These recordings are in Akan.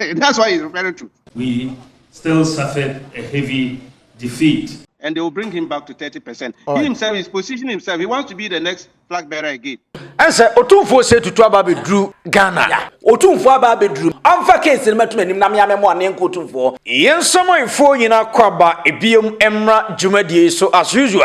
That's why he's referring to. We still suffered a heavy defeat. And they will bring him back to 30%. All he himself is positioning himself. He wants to be the next flag bearer again. And say Otumfuo say tutu aba be drew Ghana. Yeah. Otumfuo aba be drew. I'm for case in metum anim na me amemo anen ko Otumfuo. Yɛn samanfoɔ nyinaa kɔ aba ebiem mmra dwumadie so as usual.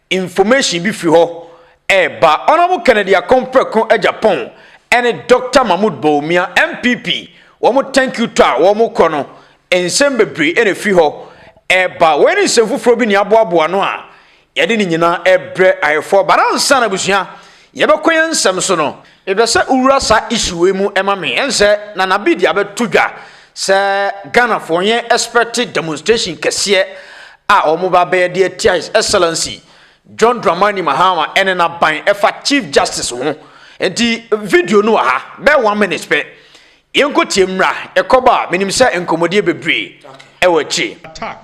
Information bi firi hɔ reba. Honourable Kennedy Akon Preko Agya Pon ɛne Doctor Mahmood Bawumia NPP wɔn thank you tour a wɔn kɔ no nsɛm bebree ɛna ɛfiri hɔ reba. Wei ne nsɛm foforɔ bi ne aboaboa ano a yɛde ne nyinaa ɛbrɛ ayɛfoɔ but ansa na abusua. Yɛbɛkɔ yɛn nsɛm so no, mepɛ sɛ wowura saa issue wei mu ma me. Ɛn sɛ Nana B de abɛto dwa sɛ Ghanafoɔ wɔn yɛn expect demonstration kɛseɛ a wɔn ba bɛyɛ de atia His Excellency John Dramani Mahama ɛne n'aban ɛfa Chief Justice ho. Nti video no wɔ ha bɛyɛ one minute pɛ. Yɛnkɔ tie mmra ɛkɔba a menim sɛ nkɔmmɔdie bebree ɛwɔ akyire. Attack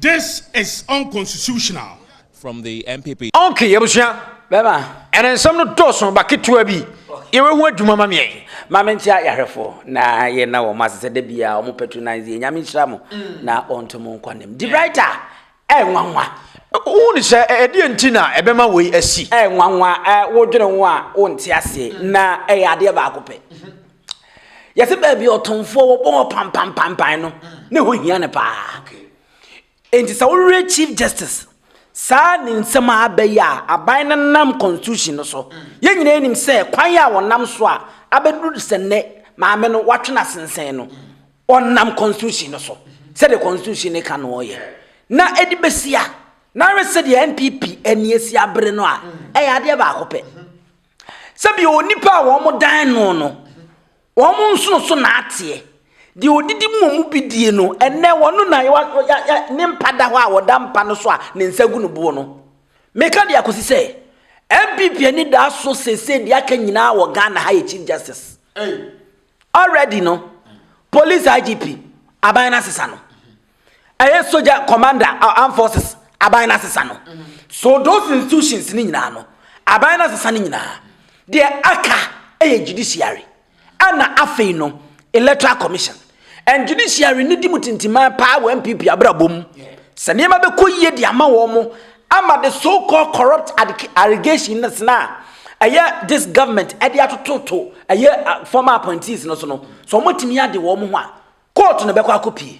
This is unconstitutional. From the NPP. Ok yɛbusua bɛma ɛne nsɛm no dɔɔso ba ketewa bi yɛwɛ ho adwuma ma meɛ. Ma me nkyia yahwɛfo na yɛ na wɔn ase sɛ da bia wɔn patronize yɛ nyame nhyira mo na ɔnto mo nkwa nim. Debrighter ɛyɛ nwanwa. Wohu ne sɛ ɛdeɛ nti na ɛbɛma wei asi. Ɛyɛ nwanwa, wodwene ho a wonte aseɛ na ɛyɛ adeɛ baako pɛ. yɛte baabi ɔtomfoɔ wɔbɔ hɔ pampampampan no ne ho hia no paa nti sɛ wowerɛ chief justice saa ne nsɛm a aba yi a aban no nam constitution no so yɛn nyinaa anim sɛ kwan a wɔnam so a abɛduru sɛ nnɛ maame no watwe no asensɛn no ɔnam constitution no so sɛdeɛ constitution no ka no ɔyɛ na ɛde bɛsi a na ayɛ sɛdeɛ npp ani asi abere no a ɛyɛ adeɛ baako pɛ Sɛdeɛ onipa a wɔdan no no, wɔn nsono so na ateɛ. Deɛ ɔdidi mu mu bi die no, ɛnɛ wɔn na ne mpa da hɔ a wɔda mpa no so a ne nsa gu no boɔ no. Meka deɛ akɔsi sɛ, NPP ani da so sese deɛ aka nyinaa wɔ Ghana ha yɛ Chief Justice. Already no, Police IGP, aban no asesa no. ɛyɛ sogya commander uh, armed forces aban no asesa no so those institutions no nyinaa no aban no asesa no nyinaa deɛ aka ɛyɛ judiciary ɛna afei no electoral commission and judiciary no di mu tintiman paa wɔ npp abrabɔ mu sɛ nneɛma bɛkɔ yie de ama wɔn mo ama the so called corrupt allegation no sena a ɛyɛ this government ɛde atototo ɛyɛ uh, former appointees no so no so wɔtumi ade wɔn ho a Kɔɔto na ɛbɛkɔ akɔpie.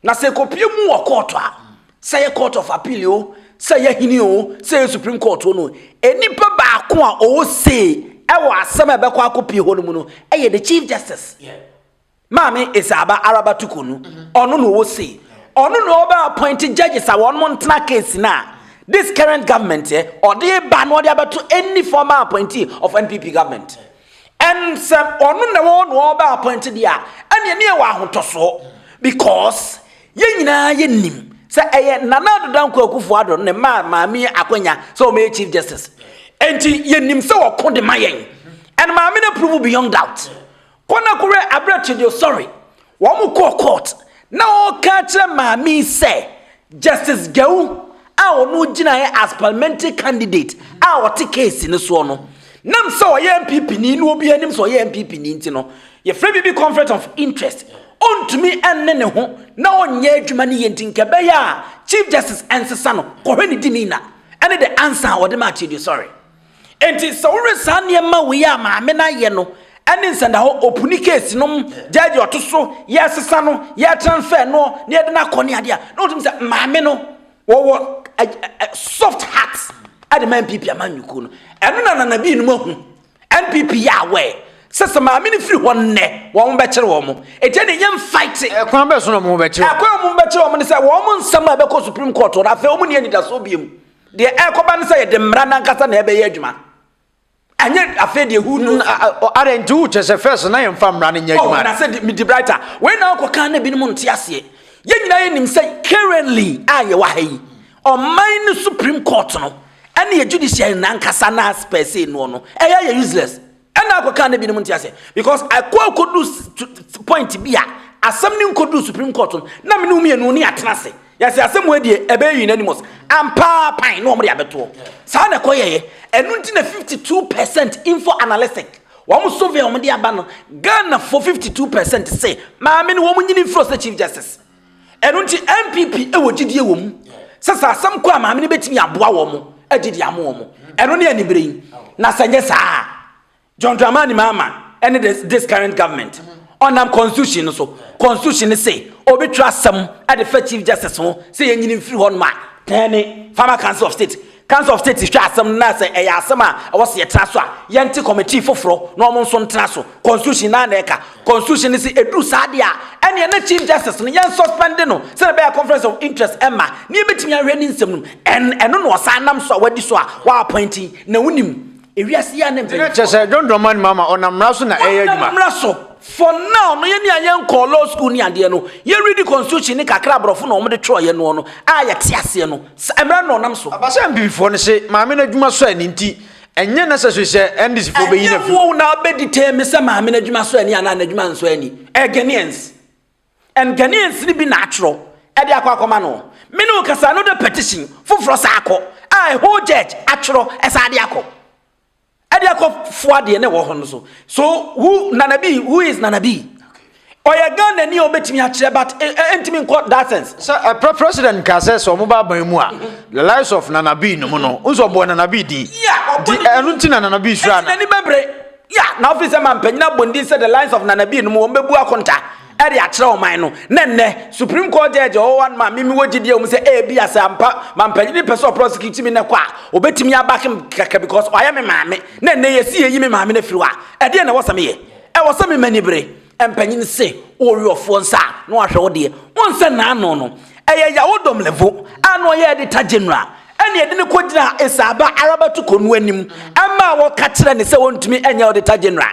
Na sɛ ɛkɔpie mu wɔ kɔɔto a, sɛ yɛ court of appeal o, sɛ yɛ hene o, sɛ yɛ supreme court o no, nnipa baako a ɔwɔ say ɛwɔ asɛm a ɛbɛkɔ akɔpie hɔ no mu no, ɛyɛ the chief justice. Maame Esaaba Araba Tukonu, ɔno na ɔwɔ say. Ɔno na ɔbɛ appoint judges a wɔn ntena case no a this current government ɛ, ɔde ba na ɔde abɛto any former appointee of NPP government. And sɛ ɔno na wɔwɔ na ɔbɛ appoint deɛ a ɛneɛ ne yɛwɔ ahotɔsoɔ because yɛn nyinaa yɛnim sɛ ɛyɛ Nana Addo Dankwa Akufo Addo ne maa maame akwanya sɛ ɔmɛyɛ Chief Justice enti yɛnim sɛ ɔko de ma yɛn and maame no approve beyond doubt kɔ na kɔwɛ aberɛ to deɛ sorry Wɔkɔɔ court na ɔreka akyerɛ maame yi sɛ Justice Gyawu a ɔno gyinaeɛ as parliamentary candidate a ɔte case no soɔ no, nam sɛ ɔyɛ NPP ni na obiara nim sɛ ɔyɛ NPP ni nti no, yɛfrɛ biribi conflict of interest, ɔntumi nne ne ho na ɔnyɛ adwuma no yie nti nka ɛbɛyɛ a Chief Justice nsesa no kɔhwɛ ne demeanour ne the answer a ɔde maa Kyedu Sɔre. Enti sɛ wohwɛ saa nneɛma wei a maame no ayɛ no ne nsɛndahɔ opuni case nom gyɛɛgye ɔto so yɛresesa no yɛretransfer noɔ na yɛde no akɔ ne adeɛ a na wotumi sɛ maame no wɔwɔ soft heart ɛde ma NPP amanyɔkuo no ɛno na nana bii nom ahu NPP yɛ aware sɛ sɛ maame no firi hɔ nnɛ wɔn bɛkyere wɔn ɛti ɛne yɛn fight ɛkwan bɛso na wɔn bɛkyere ɛkwan wɔn bɛkyere wɔn ne sɛ wɔn nsɛm a ɛbɛkɔ Supreme Court wɔn afei wɔn ne anidasoɔ bie mu Deɛ ɛrekɔba ne sɛ yɛde mmara no ankasa na ɛbɛyɛ adwuma. Ɛnyɛ afei deɛ who knows. Ara nti wokyɛ sɛ first na yɛmfa mmara no nyɛ adwuma. Oh, na sɛ medi brighter. Wei na wokɔka na binom nte aseɛ. Yɛn nyinaa yɛnim sɛ currently a yɛwɔ ha yi, ɔman no Supreme Court no ɛne yɛ judiciary no ankasa no a spɛsee noɔ no, ɛyɛ ayɛ useless. Ɛna akɔka na binom nte ase because ɛkɔ akɔdu point bi a asɛm no nkɔdu supreme court no na mene wo mmienu ne atena ase yɛsɛ asɛm wɔ adie ɛbɛyɛ unanimous ampaa pan na wɔde abɛtoɔ saa na ɛkɔ yɛyɛ ɛno nti na 52 percent info analytic wɔn survey wɔn de aba no Ghana for 52 percent se maame no wɔn nyini mfiri ɔsɛ chief justice Ɛno nti NPP wɔ gyidie wɔ mu sɛ sɛ asɛm kɔ a maame no bɛtumi aboa wɔn mo agye de ama wɔn mo. Ɛno ne anibere yi. Na sɛ nyɛ saa John Dramani Mahama ɛne this, this current government ɔnam constitution no so constitution no se ɔbɛtwerɛ asɛm ɛde fa chief justice ho sɛ yɛnyini mfiri hɔ nom a tɛn ne farmer council of state Council of State hwɛ asɛm no na sɛ ɛyɛ asɛm a ɛwɔ sɛ yɛtra so a, yɛnte committee foforo na wɔn nso ntra so. Constitution no ara na ɛka. Constitution no se ɛduru saa adeɛ a, ɛneɛ na Chief Justice no yɛn suspend no sɛdeɛ ɛbɛyɛ a conflict of interest mma ne yɛbɛtumi ahwɛ ne nsɛm no mu. And ɛno na ɔsan nam so a wadi so a wɔappoint yi na wonim. Ewiase yi ara ne mpanyinfoɔ. Kyerɛ sɛ John Dramani Mahama ɔnam mmara so na ɛyɛ adwuma. Ɔnam mmara so. For now no yɛn ni a yɛn nkɔɔ law school ni adeɛ no yɛ read constitution ni kakra aborɔfo na wɔn de twerɛ yɛ noɔ no a yɛ te aseɛ no sa mmara no na ɔnam so. Aba sɛ NPP foɔ no se Maame no adwuma sɔ ani nti ɛnyɛ necessary sɛ NDC foɔ bɛ yi no afiri mu. Ɛnyɛ wo na wobɛ determine sɛ Maame no adwuma sɔ ani anaa n'adwuma nsɔ ani. Ɛyɛ Ghanaians. And Ghanaians no bi na atwerɛ ɛde akɔ akɔma no. Me ne wo kasa no de petition foforɔ saa akɔ a a whole judge atwerɛ ɛsaa de akɔ ɛde akɔ foa deɛ ne wɔ hɔ no so. So who Nana B who is Nana B? ɔyɛ Ghana ni a ɔbɛtumi akyerɛ but ɛntumi nkɔ that sense. sɛ ɛprɛ president ka sɛ sɛ ɔmo ba aban mu a the lives of nanabi no mu no nso ɔbɔ nanabi din di ɛno nti na nanabi sura no. ɛti n'ani bɛbere. Ya, na ɔfiri sɛ ma mpanyin abɔ ndin sɛ the lines of Nana Bii no mu wɔn bɛbu akonta ɛde akyerɛ ɔman no, na nnɛ Supreme Court Judge a ɔwɔ hɔ no ma me me wɔ gyidie wɔ mu sɛ ebia sɛ ampa ma mpanyin no pɛ sɛ ɔprɔsekiti me nɛkɔ a ɔbɛtumi abake me kɛkɛ because ɔayɛ me maame, na nnɛ yɛsi yɛyi me maame no afiri hɔ a ɛdeɛn na ɛwɔ sɛ meyɛ? Ɛwɔ sɛ me m'ani bere? Mpanyin se wowe ɔfoɔ nsa a na wahwɛ wo deɛ, wonsɛ n'ano no, ɛyɛ Yawo Domlevo a na ɔyɛ Editor General Ɛnna ɛde no kɔgyinaa Esau ba Araba tukɔ no anim maa wɔka kyerɛɛ no sɛ ɔntumi nyɛ ɔdeta gyena.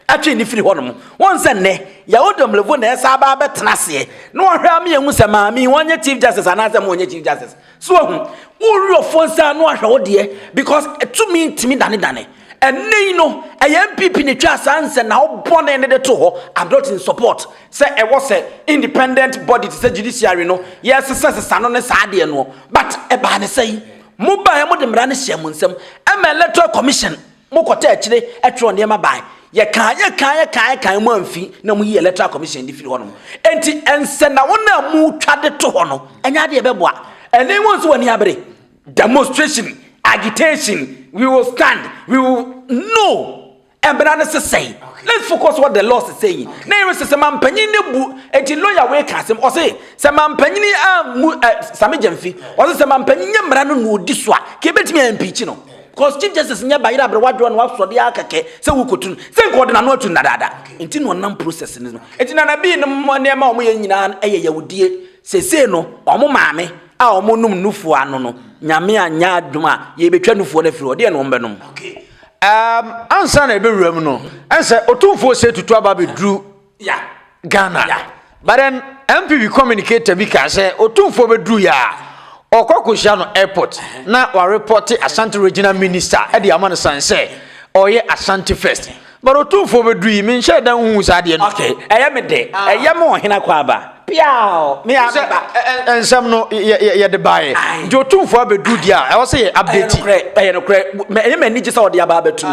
Ɛtwee no firii hɔnom. Wohu sɛ nnɛ, Yaw Domlevo na ɛsan aba abɛtena aseɛ, na wahwɛ ama yɛahu sɛ maame yi, ɔnyɛ Chief Justice anaasɛ mma ɔnyɛ Chief Justice. So wahu? Wo Werɛfoɔ nsa ano ahwɛ wo deɛ, because tumi ntumi danedane. Ɛnnɛ yi no, ɛyɛ NPP na ɛtwaa saa nsɛnnahɔ bɔne no de too hɔ, I'm not in support. Sɛ ɛwɔ sɛ independent body te sɛ judiciary no yɛ sesa sesa no ne saa deɛ noɔ but ɛbaa ne sɛi mo baɛ mo de mmara no hyɛɛ mo nsam ɛma electoral commission mo kɔtɔ akyire ɛtwerɛ nneɛma baɛ yɛ kaa yɛ kaa yɛ kaa yɛ kaa mo amfi na mo yi electoral commission de firi hɔ nom enti ɛnsɛ na wɔn a mo twa de to hɔ no ɛnyɛ adeɛ ɛbɛboa ɛne wɔn nso wɔn abere demonstration agitation we will stand we will no Mmara no sesɛe. Lefifo kɔ so wɔ the law sesɛe yi. Na yɛn sɛ sɛ mampanyin no bu enti lawyer wei ka asɛm ɔse sɛ mampanyin ammu eh, Sami Gyamfi ɔse sɛ mampanyin nyɛ mmara no na odi so a ka ebetumi a impeach no. Cause Chief Justice nyɛ bayerɛ abrɛ wadwoɔ na wasɔ de ara kɛkɛ sɛ wokotu no. Sɛ nka ɔde n'ano atu no dadaada. Enti na ɔnam process no so. Enti Nana Bii no mo nneɛma a wɔyɛ nyinaa no yɛ yawudie. Seesei no wɔn maame a wɔnom nufoɔ ano no Nyame anyɛ adom a yɛbɛtwa nufoɔ no afiri hɔ deɛ na wɔbɛnom. Um, ansa na ɛbɛwura mu no ɛnsɛ ɔtumfoɔ sɛ tutu aba bɛduru ghana but then mpv communicator bi kaa sɛ ɔtumfoɔ bɛduru yɛ a ɔkɔ akɔhyia no airport na warepɔte asante regional minister ɛde ama no san sɛ ɔyɛ asante first but ɔtumfoɔ bɛduru yi menhyɛ da nhu saa deɛ no ɛyɛ me de ɛyɛ me ɔhena kɔ aba Piaw! Me a meba. Nsɛm no yɛde baeɛ nti otumfoɔ abɛduru deɛ a ɛwɔ sɛ yɛ update. Ɛyɛ nokorɛ ɛyɛ m'ani gye sɛ ɔde aba abɛtum.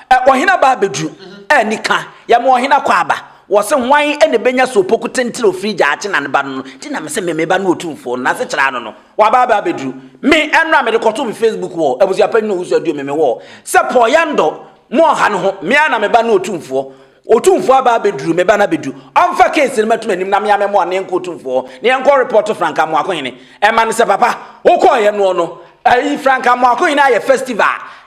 Ah. Ɔhene aba abɛduru a nika yɛma ɔhene akɔ aba wɔ se hwan na ɛbɛnya so opoku tentene ofiri gyaakye na ne ba no no nti na me sɛ memeba ne otumfoɔ no nase kyerɛ ano no waba aba abɛduru me ɛnora mede kɔto me facebook wɔ abusuapɛ nyina owusu aduo me me wɔ sɛ pɔyɛ ndɔ mo ɔha no ho me a na meba ne otumfoɔ Otumfoɔ aba abɛduru, me ba no abɛdu. Ɔmfa case no mɛto m'anim na me ara mɛma ɔne nkɔ Otumfoɔ hɔ na yɛnkɔ report Frank Amoako Hene ɛma no sɛ papa wokɔeɛ noɔ no, ayi Frank Amoako Hene ayɛ festival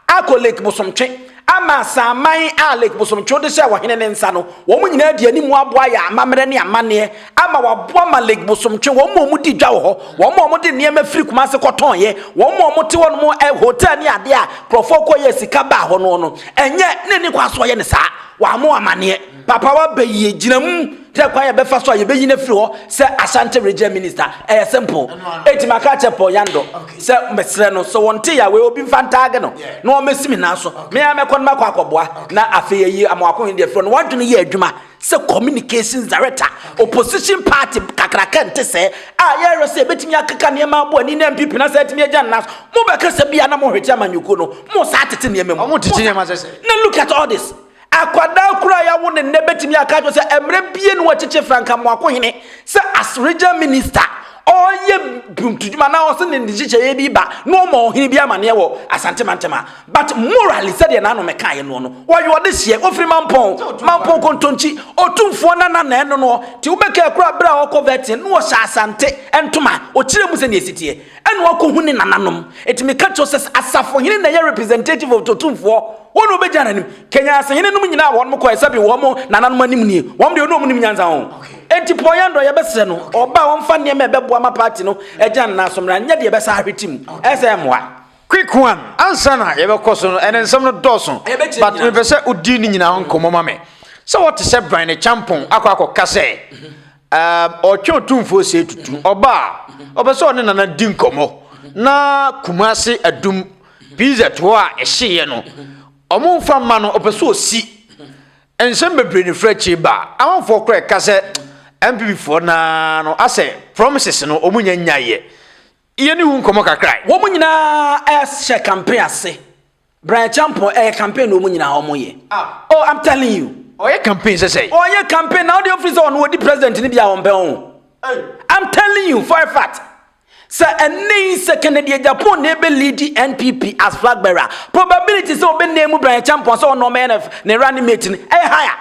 akɔ Lake Bosomtwe ama asaman a Lake Bosomtwe wode hyɛɛ ɔhene ne nsa no, wɔn nyinaa de anim aboa yɛ amammerɛ ne amanneɛ ama wɔaboa ma Lake Bosomtwe, wɔn a wɔdi dwa wɔ hɔ, wɔn a wɔde nneɛma firi Kumase kɔtɔnyɛ, wɔn a wɔte hɔ nom ɛ hotel ne adeɛ a nkurɔfoɔ kɔ yɛ sika baa hɔ no no, ɛnyɛ ne ne kwan so ɔyɛ ne saa, wɔammɔ amanneɛ. Papa waba yie, gyina mu, kyerɛ kwan a yɛbɛfa so a yɛbɛyi no afiri hɔ sɛ Ashanti Regional Minister. Ɛyɛ simple. Enti maka akyerɛ Paul Yando sɛ mesrɛ no sɛ wɔnte yɛ awei obi mfa ntaage no na wɔmmɛsi me nan so. Me ara mɛkɔ no makɔ akɔboa na afei ayi Amoako Hindi afiri hɔ no wɔadwene yɛ adwuma sɛ Communications Director, opposition party kakraka nte sɛɛ a yɛrehwɛ sɛ yɛbɛtumi akeka nneɛma abɔ ani na NPP no asan atumi agya no nan so. Mobɛkasa bi a na mohwete amanyɔkuo no, mosan atete nneɛma mu. Wɔtete nneɛma sɛ sɛn? Na look at all this. Akwadaa koro a yɛawo no nnɛ bɛtumi aka akyerɛ wo sɛ mmerɛ bie na wɔakyekye Frank Amoakohene sɛ as Regional Minister, ɔreyɛ buntudwuma anaa ɔse ne nhyehyɛeɛ bi ba na ɔma ɔhene bi amaneɛ wɔ Asante mantam a. But morally sɛdeɛ nanom ɛkaeɛ noɔ no, wɔyɔ ɔde hyeɛ, ɔfiri mampɔn, mampɔn kontonkyi, ɔtumfoɔ nana na ɛno noɔ, te wobɛkɛɛ koraa berɛ a ɔkɔ vetting no ɔhyɛ asante ntoma, ɔkyerɛ mu sɛdeɛ ɛsi teɛ, ɛna ɔkɔ hu ne nananom, ɛti meka kyerɛ wo sɛ asafohene na ɛyɛ representative of ɔtumfoɔ, wɔn na ɔbɛgyina nanim, Kenya asehene nom nyinaa a wɔnom kɔɛ sɛbi wɔn nananom anim nie, wɔn deɛ ɔne wɔn nim nyansa ho, ɛnti Paul Yandor yɛbɛsrɛ no ɔba a ɔmfa nneɛma a ɛbɛboa ma party no agyina ne nan so mmra, nyɛ deɛ ɛbɛsa ahwete mu, ɛsɛ mmoa. Quick one ansa na yɛbɛkɔ so no ɛnɛ nsɛm no dɔɔso but mepɛ sɛ wodi ne nyinaa ho nkɔmmɔ ma me sɛ wɔte sɛ bran ne kyampɔn akɔ akɔka sɛ ɔtwe otumfoɔ sɛ tutu ɔba a ɔpɛ sɛ ɔne nana di nkɔmmɔ na kumase adum pz hɔ a ɛhyeeɛ no ɔmo mfa mma no ɔpɛ sɛ ɔsi nsɛm bebree ne frɛ akyiri ba amanfoɔ korɛ ka sɛ mpp foɔ naa no asɛ promises no ɔmo nya nyaeɛ Yɛne wo nkɔmmɔ kakra. Wɔn nyinaa hyɛ campaign ase. Bra Acheampong ɛyɛ campaign na wɔn nyinaa wɔn yɛ. Oh I'm telling you. Ɔyɛ campaign sɛsɛe. Ɔyɛ campaign na ɔde ofiri sɛ ɔno ɔdi president ne bi a wɔn pɛ ho. I'm telling you for a fact. Sɛ ɛnne yi sɛ Kennedy Acheampong na ebe lead NPP as flag bearer probability sɛ ɔbɛ name Bra Acheampong sɛ ɔno ɔmɛyɛ ne running mate no ɛyɛ higher.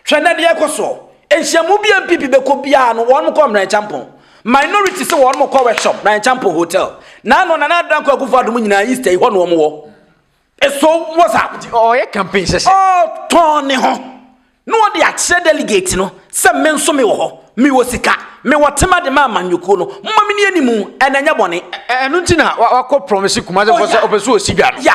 Hwɛ na deɛ ɛkɔ soɔ. Nhyiamu bi a MPP bɛkɔ biara no, wɔn kɔ Mmran Kyampɔn. Minority sɛ wɔn kɔ workshop, Mmran Kyampɔn Hotel. Na ano Nana Addo Dankwa Akufo Addo mu nyinaa Easter yi hɔ na wɔn wɔ. Eso wɔ sa. Ɔyɛ campaign hyɛhyɛ. Ɔtɔn ne ho. Na wɔde akyerɛ delegate no sɛ me nso me wɔ hɔ. Me wɔ sika. Me wɔ tema de ma amanyɔkuo no. Mma me ni animu. Ɛna ɛnyɛ bɔne. Ɛno nti na wakɔ promise Kumase fo sɛ ɔpɛ sɛ ɔsi dwa no. Ya.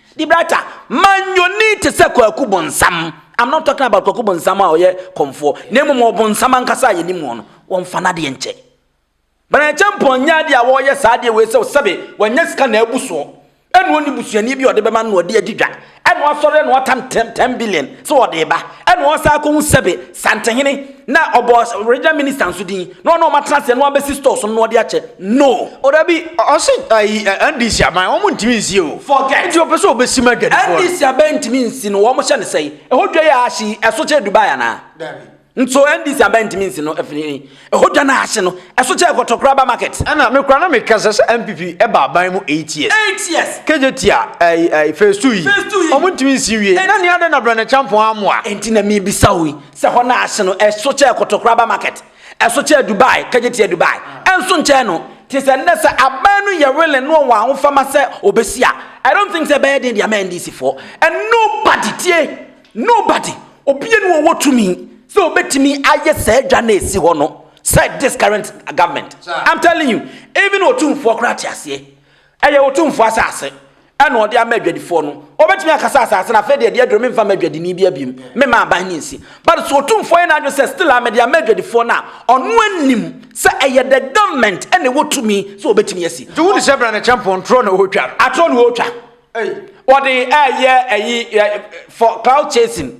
De brata, manyoni te sɛ kwaku bonsam. I'm not talking about kwaku bonsam a ɔyɛ kɔmfoɔ, na mmom ɔbonsam ankasa a yɛnim wɔn no, wɔmfa n'adeɛ nkyɛ. Banakyɛmpɔn nyɛ adeɛ a wɔreyɛ saa adeɛ wei sɛ sɛbe wanya sika na abu soɔ, ɛna ɔnni busuani bi a ɔde bɛma no na ɔde adi dwa, ɛna wasɔre na watan 10 billion sɛ ɔde reba, ɛna ɔresan akɔhu sɛbe Santehene, Na ɔbɔ regional minister nso din na ɔno ɔma tena aseɛ na wabɛsi stores no na ɔde akyɛ no. O dabi ɔse ayi NDC aban wɔn ntumi nsi o. Forget. Nti ɔpɛ sɛ ɔbɛsi ma adwadifoɔ no. NDC aban ntumi nsi no wɔn hyɛ no sɛi? Ɛhɔ dwa yi a ahye yi ɛso kyɛ Dubai anaa? Dabi. Nso NDC aban ntumi nsi no ɛfiri he? Ɛhɔ dwa no a ahye no ɛso kyɛ kɔtɔkorɔ aba market? Ɛna me koraa na me kasa sɛ NPP ɛba aban mu eight years. Eight years. KJT a ayi ayi phase two yi. Phase two yi. Wɔn ntumi nsi nwie. Phase. Na nea adɛn na Brɛnɛ Kyampɔn ammoa? Ɛnti na mebisa wo yi. Sɛ hɔ na ahye no, ɛso kyɛɛ Kotokoraba market, ɛso kyɛɛ Dubai, Kagyetia Dubai, ɛnso nkyɛɛ no. Te sɛ nnɛ sɛ aban no yɛ willing na ɔwɔ ahofama sɛ ɔbɛsi a, I don't think sɛ ɛbɛyɛ den de ama NDC foɔ. And nobody, tie, nobody, obia ni hɔ a ɔwɔ tumi sɛ ɔbɛtumi ayɛ saa adwa no a ɛsi hɔ no sɛ this current government. I'm telling you, even Otumfoɔ koraa te aseɛ. Ɛyɛ Otumfoɔ asase na ɔde ama adwadifoɔ no. Ɔbɛtumi aka sɛ asase no afei deɛ ɛde aduro memfa mma adwadini biara bio, memma aban no nsi. But so Otumfoɔ ayɛ n'adwene sɛ still a mede ama adwadifoɔ no a, ɔno anim sɛ ɛyɛ the government na ɛwɔ tumi sɛ ɔbɛtumi asi. Nti wode hyɛ bra na ɛkyɛ mpɔn torɔ na ɔretwa no? Atorɔ na ɔretwa. Ei. Ɔde ɛɛyɛ ɛyi for cloud chasing.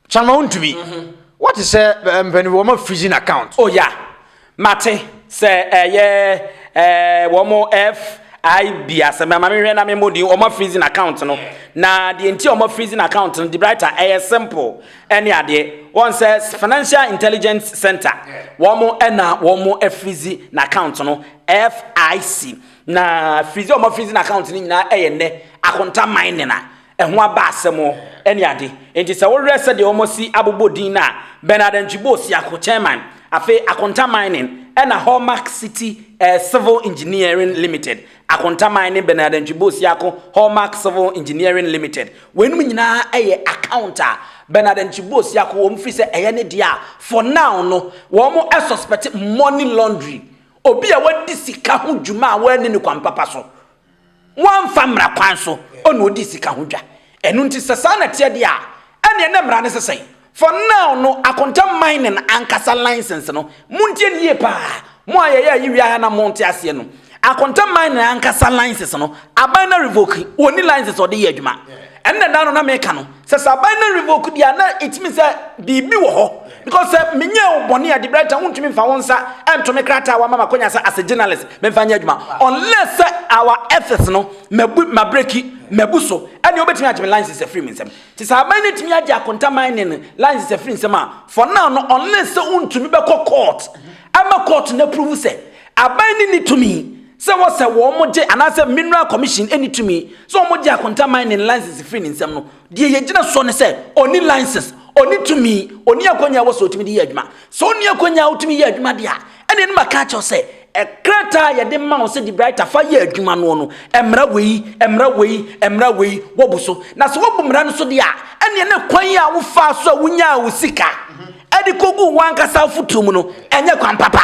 Chama wontumi. Wote sɛ mpanyinfo wɔn ma freezing account. Oh yeah, mate sɛ ɛyɛ ɛɛ wɔn FIB asɛm na maame hwɛ na me mmɔ din wɔn ma freezing account no na deɛ nti wɔn ma freezing account no debraita ɛyɛ simple ɛne adeɛ wɔn sɛ financial intelligence center wɔn ɛna wɔn afrizi na account no FIC na frizi wɔn ma freezing account no nyinaa ɛyɛ nnɛ akonta mining a. ɛho aba asɛm ne ade. Enti sɛ wohwɛ sɛdeɛ wɔasi abobɔ din no a, Bernard Antwibo Siako, Chairman, afei Akonta Mining, ɛna Hallmark City eh, Civil Engineering Limited, Akonta Mining, Bernard Antwibo Siako, Hallmark Civil Engineering Limited. Weinom nyinaa yɛ account a Bernard Antwibo Siako wɔn firi sɛ ɛyɛ ne deɛ a for now no wɔn suspect money laundry, obi a wadi sika ho dwuma a wɔanni ne kwan papa so. Wɔamfa mmara kwan so na odii sika ho dwa. Ɛno nti, sɛ saa na ɛteɛ deɛ a, ɛnneɛ na mmara no sɛ sɛn? For now no, Akonta Mining ankasa license no, montie no yie pa ara, mo a yɛyɛ ayi wia ha na monte aseɛ no, Akonta Mining ankasa license no, aban no revoke, wɔnni license a wɔde yɛ adwuma. Ɛnna da no na meka no sɛ sɛ aban no revoke deɛ a na ɛtumi sɛ biribi wɔ hɔ because sɛ menyɛ wo bɔne a Debright a wontumi mfa wo nsa ɛnto me krataa a wama makwanya sɛ as a journalist memfa nyɛ adwuma unless sɛ our ethics no mabu mabreki mabu so ɛnneɛ wobɛtumi agye me license afiri me nsam nti sɛ aban no atumi agye akonta mining no license afiri nsam a for now no unless sɛ wontumi bɛkɔ court ɛma court no approve sɛ aban no ni tumi sɛ wɔsɛ wɔgye anaasɛ Mineral Commission nni tumi sɛ wɔgye akonta mining license firi ne nsam no, deɛ yɛgyina soɔ ne sɛ ɔnni license, ɔnni tumi, ɔnni akwanya a ɛwɔ sɛ ɔtumi de yɛ adwuma. Sɛ ɔnni akwanya a ɔtumi yɛ adwuma deɛ a, ɛnneɛ ne maka akyerɛ wo sɛ krataa a yɛde ma wo sɛ De Bruyter fa yɛ adwuma noɔ no, mmara wei, mmara wei, mmara wei, woabu so. Na sɛ woabu mmara no so deɛ a, ɛnneɛ ne kwan a wofaa so a wonyaa wo sika de kɔguu w'ankasa afotuo mu no, ɛnyɛ kwan papa.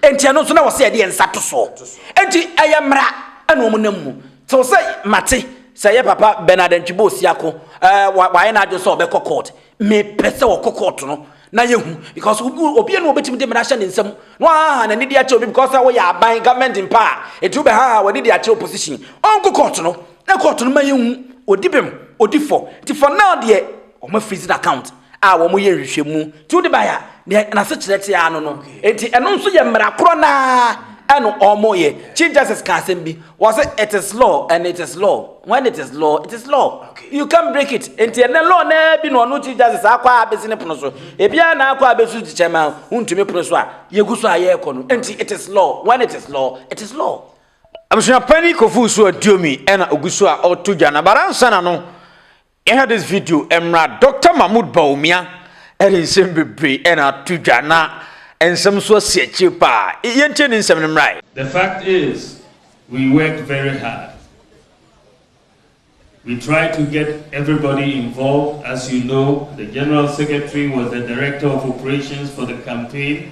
Enti ɛno nso na wɔsɛ yɛde yɛn nsa to so. Enti ɛyɛ mmara ɛna wɔn nam mu. Sɛ wɔsɛ mate sɛ yɛ papa Bernard Antwibo Osiako ɛɛ wayɛ n'adwene sɛ ɔbɛkɔ court. Mepɛ sɛ ɔkɔ court no na yɛhu because obi ɛna obetumi de mmara hyɛ ne nsam na wahaha n'ani de akyerɛ obi because sɛ wɔyɛ aban government mpa a eti wobɛhaha w'ani de akyerɛ opposition. Ɔnkɔ court no na court no ma yɛhu odi bem odi fɔ nti for now deɛ wɔn afirizi n'account. a wɔyɛ nhwehwɛmu ti wode bae a nea n'asekyerɛ te ara no no enti ɛno nso yɛ mmara korɔ no ara ɛno wɔyɛ chief justice ka asɛm bi wɔse it is law and it is law when it is law it is law you can break it enti ɛnɛ law no bi na ɔno chief justice akɔ a bɛsi ne pono so ebiara na akɔ a bɛsu kyekyɛ ma wontumi pono so a yɛgu so a yɛrekɔ no enti it is law when it is law it is law abusuapani kofu so aduomi ɛna ogu so a ɔto dwa na baransa na no Yɛnhwɛ this video mmra Doctor Mahmood Bawumia ɛde nsɛm bebree ɛna ato dwa na nsɛm nso asi akyire paa yɛntie ne nsɛm no mmra. The fact is we work very hard we try to get everybody involved as you know the general secretary was the director of operations for the campaign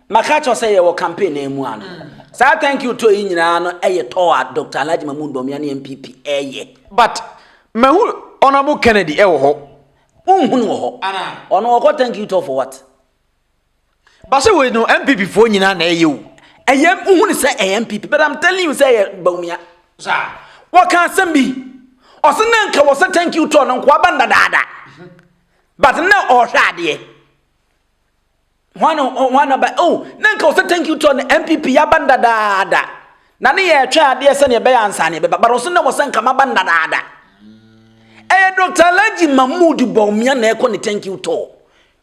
Maka kyerɛ sɛ yɛwɔ campaign na ɛmu ano. Saa thank you tour yi nyinaa no ɛyɛ tour a Doctor Alhaji Mahmood Bawumia ne NPP ɛyɛ. But mahu Honourable Kennedy ɛwɔ hɔ. Wonhu no wɔ hɔ. Ɔno ɔkɔ thank you tour for what? Base wei no NPP foɔ nyinaa na ɛyɛ o. Ɛyɛ wohu no sɛ ɛyɛ NPP but I'm telling you sɛ ɛyɛ Bawumia. Saa. Wɔka asɛm bi. Ɔsɛ na nka wɔ sɛ thank you tour no nkoa ba ndadaada. But na ɔhwɛ adeɛ. Hwan na hwan na ba oh na nka ɔsɛ thank you to the NPP yaba ndadaada na ne yɛ ɛtwɛn adeɛ sɛ ne ɛbɛyɛ ansa ne ɛbɛba but ɔsɛ na wɔsɛ nka maba ndadaada ɛyɛ Dr. Alhaji Mahmood Bawumia na ɛkɔ ne thank you to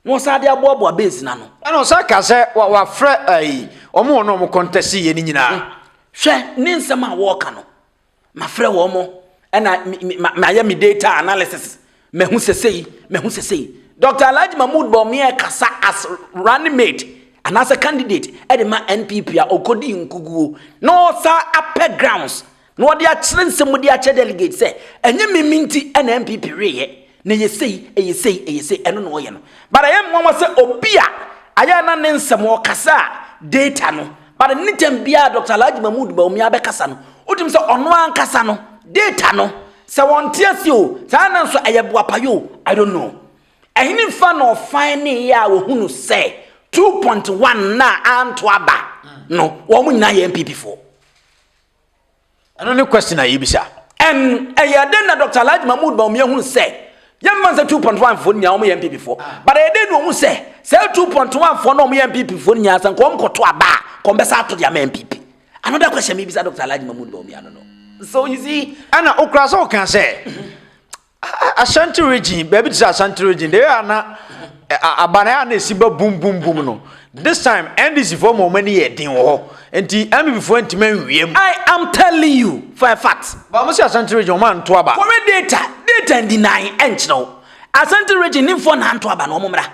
na ɔsɛ adeɛ aboaboa base na no ɛna ɔsɛ ka sɛ wafrɛ ayi wɔn wɔn a wɔn kɔntɛsi yɛ ne nyinaa hmm. hwɛ ne nsɛm a wɔɔka no Mafrɛ wɔn, ɛna mayɛ me data analysis. Mahu sɛ sei, mahu sɛ sei. Dr. Alhaji Mahmood Bawumia kasa as running mate anaasɛ candidate de ma NPP a ɔkɔdi nkuguo na ɔsa apɛ grounds na ɔde akyerɛ nsɛm mu de akyerɛ delegate sɛ ɛnyɛ mimi nti na NPP weyɛ. Na ɛyɛ sei, ɛyɛ sei, ɛyɛ sei, ɛno na ɔyɛ no. But ɛyɛ nwanwa sɛ obi a ayɛ a na ne nsɛm ɔkasa a data no, but anytime biara Doctor Alhaji Mahmood Bawumia bɛkasa no, wotumi sɛ ɔno ankasa no, data no, sɛ ɔnte aseɛ o, saa na nso ɛyɛ boapayɛ o, I don't know. Ɛhene fa na ɔfaneeɛ a wɔhunu sɛ 2.1 no a anto aba no, wɔn nyinaa yɛ NPP foɔ. ɛno ne question a yɛbisa ɛn ɛyɛ dɛn na dr alhaji mahmood baomi ahunu sɛ yɛmfa nsɛ 2.1 foɔ nyinaa wɔyɛ npp foɔ but ɛyɛ dɛn na ɔhu sɛ sɛ 2.1 foɔ na wɔyɛ npp foɔ nyinaa sɛ nka wɔn kɔto aba a kɔmbɛsa ato deɛ ama npp another question mebisa dr alhaji mahmood baomi ano no so you see ɛna okura sɛ ɔka sɛ Ashanti region, baabi te sɛ Ashanti region, deɛ ɛyɛ ana aban a na esi ba bum bum bum no. This time NDC foɔ ma wɔn ani yɛ den wɔ hɔ. Nti NPP foɔ ntoma nwie mu. I am telling you for a fact. Ba mo si Ashanti region wɔn anto aba. Kɔhwɛ data, data ndi nan ɛnkyerɛ wo. Ashanti region ni foɔ na anto aba no wɔn mmra.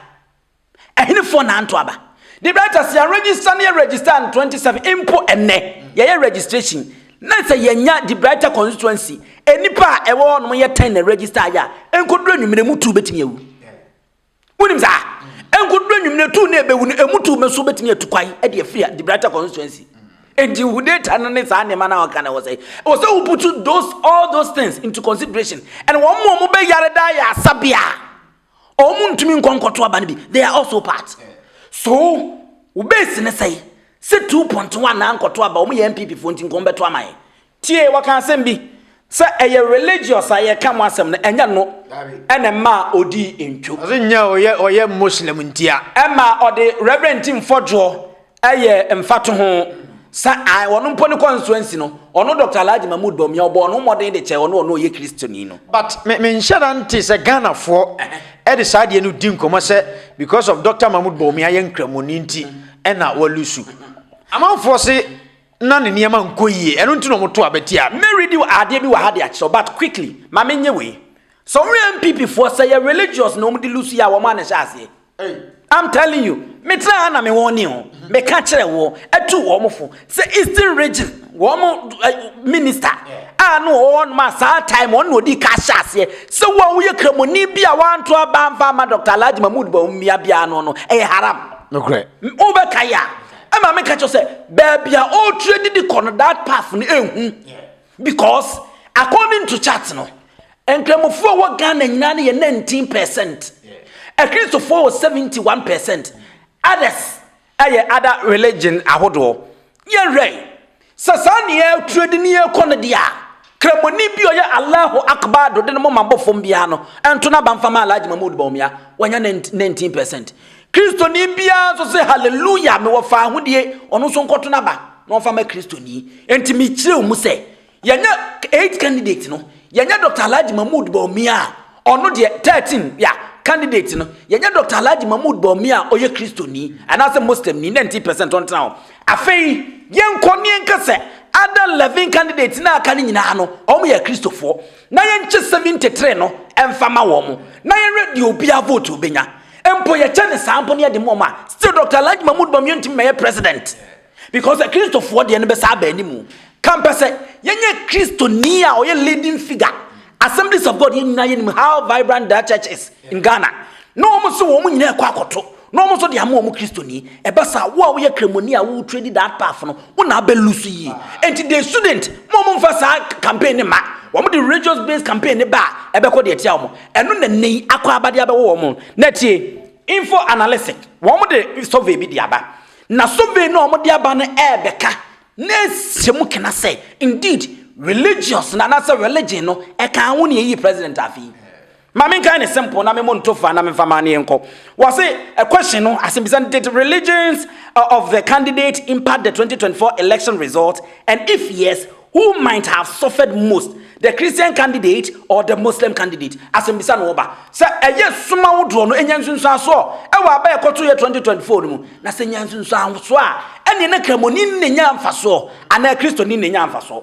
Ɛhenefoɔ na anto aba? Debraitas yɛn register ne yɛ register on 27 mpo ɛnnɛ yɛyɛ registration na sɛ yɛnya Debraitas constituency nnipa a ɛwɔ hɔ nom yɛ 10 na register ayɛ a ɛnkɔduru anwummerɛ mu tuu bɛtumi awu wonim saa ɛnkɔduru anwummerɛ tuu na ɛbɛwu no ɛmu tuu mɛso bɛtumi atu kwan ɛde afiri a Debraitas constituency enti hu data no ne saa nneɛma no a wɔka na ɛwɔ sɛ ɛwɔ sɛ woputu those all those things into consideration and wɔn mu wɔn bɛyare daa yɛ asabea Wɔn ntumi nkɔ nkɔto aba no bi. They are also part. So wo base ne sɛe sɛ two point one na nkɔto aba wɔn yɛ NPP foɔ nti nkɔn bɛto ama yɛn. Tie wɔka asɛm bi sɛ ɛyɛ religious a yɛka mo asɛm no ɛnyɛ no ɛna mmaa odii ntwo. Ɔse nyɛ ɔyɛ ɔyɛ Muslim ntia. Ɛma ɔde Reverend Tim Fɔdwoɔ Ɛyɛ mfatoho sɛ ae ɔno mpo ne constituency no, ɔno Dr. Alhaji Mahmood Bawumia, ɔbɔɔ ne ho mmɔden de kyɛɛ ɔno a ɔno ɔyɛ Kristoni no. But me menhyɛ da nte sɛ Ghanafoɔ de saa adeɛ no di nkɔmmɔ sɛ because of Dr. Mahmood Bawumia yɛ Nkramoni nti ɛna walusu. Amanfoɔ se na ne nneɛma nkɔ yie, ɛno nti na wɔto aba tia no. Me read adeɛ bi wɔ ha de akyerɛ wo but quickly ma menyɛ wei. Sɛ wohwɛ NPP foɔ sɛ ɛyɛ religious na wɔde lusuiɛ a wɔn a na ɛhyɛ aseɛ. Ei. I'm telling you, me tena ha na me wɔn ni ho, me ka kyerɛ wɔ, atu wɔn fo, sɛ Eastern region, wɔn eh, minister, a no wɔ wɔn ma saa time, wɔn na odi ka hyɛ aseɛ, sɛ wo a woyɛ kramoni bi a wanto aba amfa ama Dr. Alhaji Mahmood Bawumia bia no no, ɛyɛ haram. Nokorɛ. Wobɛkae a, ɛma me ka kyerɛ sɛ, baabi a ɔretrɛ didi kɔ no, that path no ɛhu. Because according to chart no, Nkramofoɔ wɔ Ghana nyinaa no yɛ 19 percent. Akristofoɔ wɔ 71 percent. Others ɛyɛ other religion ahodoɔ. Yɛnhwɛ sɛ saa ne yɛ trade ne yɛ kɔ no deɛ a, Kramoni bi ɔyɛ Allahu Akbar do de ne moma bɔ fam biara no, ɛnto n'aba mfa ma Alhaji Mahmoud Bawumia, wanya 19 percent. Kristoni biara nso sɛ, Haleluya, mewɔ faahodie, ɔno nso nkɔto n'aba na ɔmfa ma Kristoni. Enti mekyerɛw mu sɛ, yɛnyɛ eight candidate no, yɛnyɛ Dr. Alhaji Mahmood Bawumia a ɔno deɛ thirteen ya candidate no, yɛnyɛ Dr. Alhaji Mahmood Bawumia a ɔyɛ Kristoni anaasɛ Muslimni, ninety percent ɔntena hɔ. Afei yɛnkɔ ne yɛnka sɛ other eleven candidate no a aka no nyinaa no, wɔyɛ Akristofoɔ. na yɛnkyɛ sɛmi ntetere no mfa ma wɔn na yɛnwɛ deɛ obia vote obɛnya mpo yɛkyɛ no saa mpo na yɛde ma wɔn a still Dr. Alhaji Mahmood Bawumia ntumi mɛyɛ president because akristofoɔ deɛ no bɛsa aba animu ka mpɛ sɛ yɛnyɛ kristoni a ɔyɛ leading figure Assemblies of God yɛn nyinaa yɛnim how vibrant that church is in Ghana na wɔn so wɔn nyinaa ɛkɔ akɔto Na wɔn nso de ama wɔn Kristoni. Ɛba saa, wo a woyɛ Kramoni a wo trade that path no, wo na abɛ lose yie. Enti the student, mo mo nfa saa campaign no mma. Wɔn de religious based campaign no ba a, ɛbɛkɔ deɛ ɛtia wɔn. Ɛno na nnɛ yi akɔ aba de abɛwɔ wɔn. Na tie, info analytic, wɔn de survey bi de aba. Na survey no a wɔn de aba no ɛɛbɛka na ahyɛ mu kena sɛ, indeed, religious no anaasɛ religion no ɛkaa ho na ɛyii president afei. Ma me nkae no simple na me mo nto fa na me nfa maneɛ nkɔ. Wɔse a question no asɛmbisa no did religions uh, of the candidate impact the 2024 election result and if yes who might have suffered most the Christian candidate or the Muslim candidate asɛmbisa no ɔba sɛ ɛyɛ soma wodoɔ no ɛnya nsunsuansoɔ ɛwɔ aba ɛkɔto yɛ 2024 no mu na sɛ nya nsunsuansoɔ a ɛneɛ na kramoni ne nya mfasoɔ anaa kristoni ne nya mfasoɔ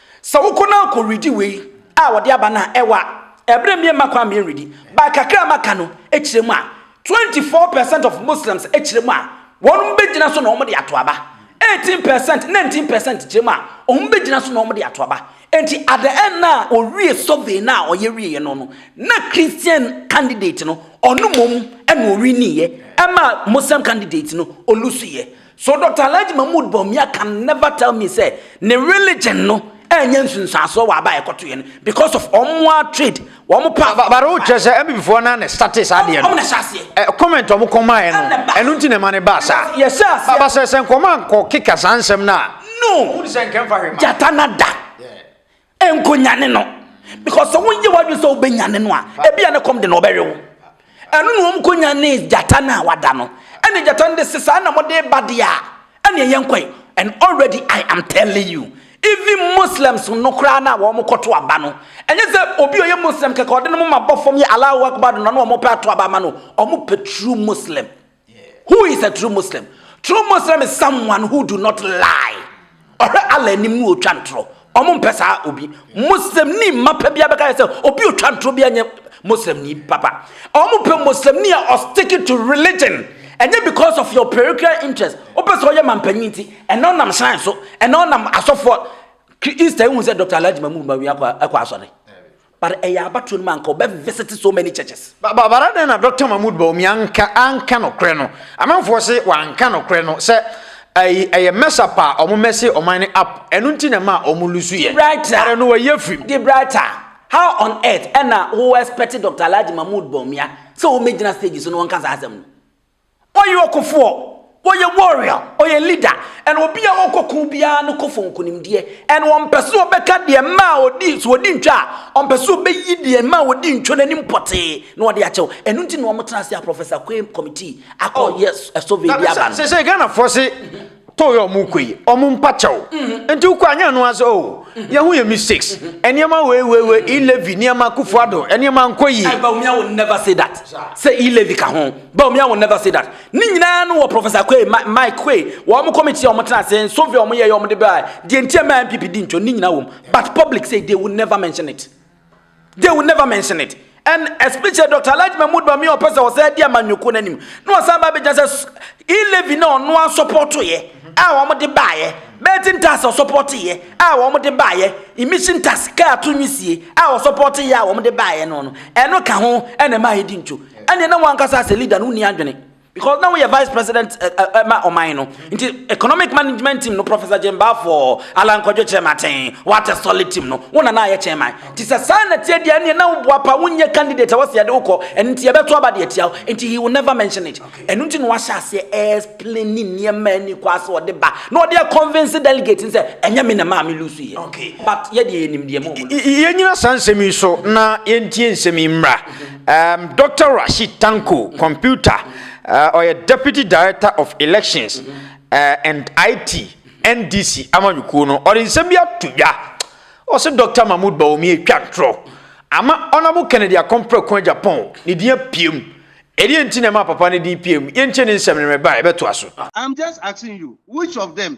Sɛ wokɔ na kɔ redi wei a wɔde aba no a, ɛwɔ a, ɛberɛ mmie mma kwan mmie redi. But kakra a maka no kyerɛ mu a, 24 percent of Muslims kyerɛ mu a, wɔn bɛgyina so na wɔn de ato aba. 18 percent, 19 percent kyerɛ mu a, wɔn bɛgyina so na wɔn de ato aba. Enti at the end na ɔwie survey no a ɔyɛ wieɛ no no, na Christian candidate no, ɔno mmom na ɔwiniiɛ, ɛma Muslim candidate no ɔlusuiɛ. So Doctor Alhaji Mahmood Bawumia can never tell me sɛ ne religion no annya nsunsuansoɔ wɔ aba a ɛkɔtoeɛ no because of wɔn ara trade, wɔn pa. Ba ba wo kyerɛ sɛ MPP foɔ no ara na startee saa adeɛ no. Wɔn na ɛhyɛ aseɛ. Ɛ comment wɔn kɔmaeɛ no, ɛno nti na ɛma no baa saa. Yɛhyɛ aseɛ. Ba ba sɛ sɛ nkɔmɔ ankɔ keka saa nsɛm no a. No! Wohu sɛ nka ɛmfa hwee ma. Gyata no ada. Yeah. Nkonyane no because sɛ wonyɛ w'adwene sɛ wobɛnyane no a ebia ne kɔm de na ɔbɛwe wo. Ɛno na wɔn konyane gyata no a wada no. Ɛne gyata no de se saa na mode ba deɛ a ɛne ɛyɛ nkɔe. And already I am telling you even Muslims no koraa no a wɔn kɔto aba no ɛnyɛ sɛ obi a ɔyɛ Muslim kɛkɛ ɔde no ma bɔ fam yɛ Allahu Akbar no na wɔn pɛ ato aba ama no wɔn pɛ true Muslim. Who is a true Muslim? True Muslim is someone who do not lie. Ɔhwɛ Allah anim ne ɔtwa ntorɔ. Ɔmo mpɛ saa obi. Muslim ni mma pɛ bia bɛka yɛ sɛ obi ɔtwa ntorɔ bia nyɛ Muslim ni papa. Ɔmo pɛ Muslim ni a ɔsticking to religion. Ɛnyɛ because of your parochial interest. Wopɛ sɛ ɔyɛ mampanyin nti. Ɛnɛ ɔnam shrine so. Ɛnɛ ɔnam asɔfoɔ. Easter ehu sɛ Dr. Alhaji Mahmood Bawumia kɔ asɔre. But ɛyɛ abatoɔ no mu a anka ɔbɛ visite so many churches. Ba but adɛn na Doctor Mahmood Bawumia anka anka nokorɛ no? Amanfoɔ se wanka nokorɛ no sɛ ɛyi ɛyɛ mess up a ɔmo mɛse ɔman no up ɛno nti na ɛmaa ɔmo lusu yɛ. Debrighter Ɛrɛ no wayi afiri mu. Debrighter, how on earth ɛna wo expect Doctor Alhaji Mahmood Bawumia sɛ ɔmɛgyina stage so na ɔnka saa asɛm no? Ɔyɛ ɔkofoɔ, ɔyɛ warrior, ɔyɛ leader, and obi a ɔkɔko biara no kɔ for nkunimdie, and ɔmpɛ sɛ ɔbɛka deɛ mma a ɔdi, sɛ ɔdi ntwa a, ɔmpɛ sɛ ɔbɛyi deɛ mma a ɔdi ntwa no anim pɔtee na ɔde akyɛ wo. Ɛno nti na wɔtena ase a Professor Quaye Committee akɔ yɛ survey de aba no. Sɛsɛi Ghanafoɔ se too yɛ ɔmo kɔ yi ɔmo mpa kyɛw mm-hmm. nti wokɔ anyɛ no ase o oh, mm-hmm. yɛho yɛ mistakes mm-hmm. nneɛma weiweiwe ilevi nneɛma kufuado nneɛma nkɔ yi. Eh, but I will never say that sɛ ilevi ka ho but I will never say that ne nyinaa no wɔ professor kwe mike kwe wɔ ɔmo committee a ɔmo tena ase nsofi ɔmo yɛ yɛ ɔmo de bɛ a deɛ nti ɛmɛ npp di ntwa ne nyinaa wɔm but public say they will never mention it. They will never mention it and especially Dr. Alhaji Mahmood Bawumia ɔpɛ sɛ ɔsɛ di amanyɔkuo no anim na ɔsan ba abɛgyina sɛ e-levy na ɔno asɔpɔtoeɛ a wɔde baeɛ betting tax ɔsɔpɔtoeɛ a wɔde baeɛ emission tax kaa to nwisie a ɔsɔpɔtoeɛ a wɔde baeɛ no no ɛno ka ho ɛna ɛma ɛdi ntwo ɛneɛ na wɔn ankasa sɛ leader no wonni adwene Because na woyɛ vice president eh, eh, eh, ma ɔman no nti economic management team no professor gyembafoɔ alan kwadwo kyɛmaten wata solid team no wo nana ayɛ kyɛman nti sɛ saa na tie deɛ neɛ na woboa pa wonyɛ candidate a wɔsɛ yɛde wokɔ ɛno nti yɛbɛto aba deɛ tia wo nti he will never mention it ɛno nti na wahyɛ aseɛ ɛsplani nneɛma ani kɔ ase ɔde ba na ɔde convince delegate n sɛ ɛnyɛ me na maa me lusu yɛ but yɛdeɛ yɛnim deɛ mu yɛnyina saa nsɛm yi so na yɛntie nsɛm yi mmra Um, Dr. Rashid Tanko, computer, uh, ɔyɛ Deputy Director of Elections uh, and IT, NDC, amanyɔkuo no, ɔde nsɛm bi ato dwa. Ɔsɛ Dr. Mahmoud Bawumia atwa ntorɔ ama Honorable Kennedy Akompreko Japan ne din apiem. Ɛdeɛ nti na ɛma papa ne din piem. Yɛntie ne nsɛm no mɛba ɛbɛtoa so. I'm just asking you, which of them